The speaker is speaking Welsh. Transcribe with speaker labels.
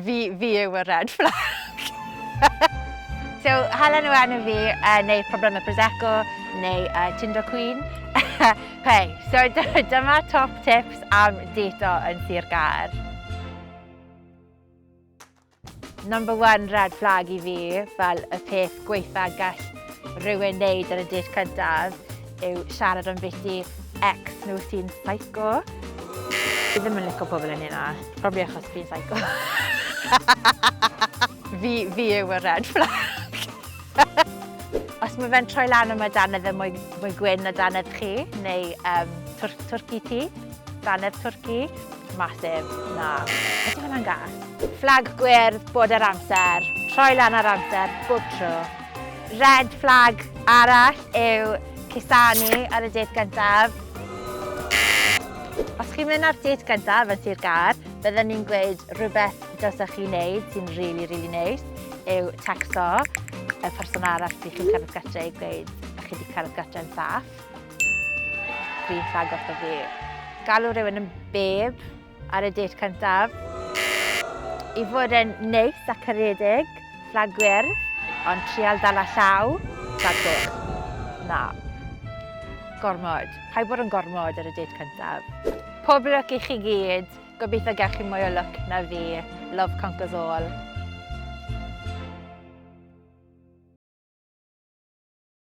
Speaker 1: Fi, fi yw y red flag. so, hala nhw enw fi, uh, neu problemau Prosecco, neu uh, Tinder Queen. Hei, so dyma top tips am dito yn Sir Gaer. Number one red flag i fi, fel y peth gweitha gall rhywun wneud yn y date cyntaf, yw siarad am beth i ex nhw sy'n psycho. Fi ddim yn licio pobl yn hynna. Probably achos fi'n psycho. fi, fi yw y red flag. Os mae fe'n troi lan am y danedd yn mwy, mwy gwyn na danedd chi, neu um, twr, twrci ti, danedd twrci, masif, na. Ydy hwnna'n gas? Flag gwyrdd bod ar amser, troi lan ar amser, bob tro. Red flag arall yw cusanu ar y dêt gyntaf. Os chi'n mynd ar dêt gyntaf yn Sir Gâr, bydden i'n gweud rhywbeth dylsech chi wneud sy'n rili, rili neis yw tecsto y person arall sydd chi'n cerdded gytre i gweud bod chi wedi cerdded gytre'n saff. Dwi'n ffag o fi. Galw rhywun yn beb. ar y date cyntaf. I fod yn neis a caredig, fflag gwyrdd, ond trial dal a llaw, fflag gwyrdd. Na. Gormod. Paid bod yn gormod ar y date cyntaf. Pob lwc i chi gyd. Gobeithio gael chi mwy o lwc na fi. Love conquers all.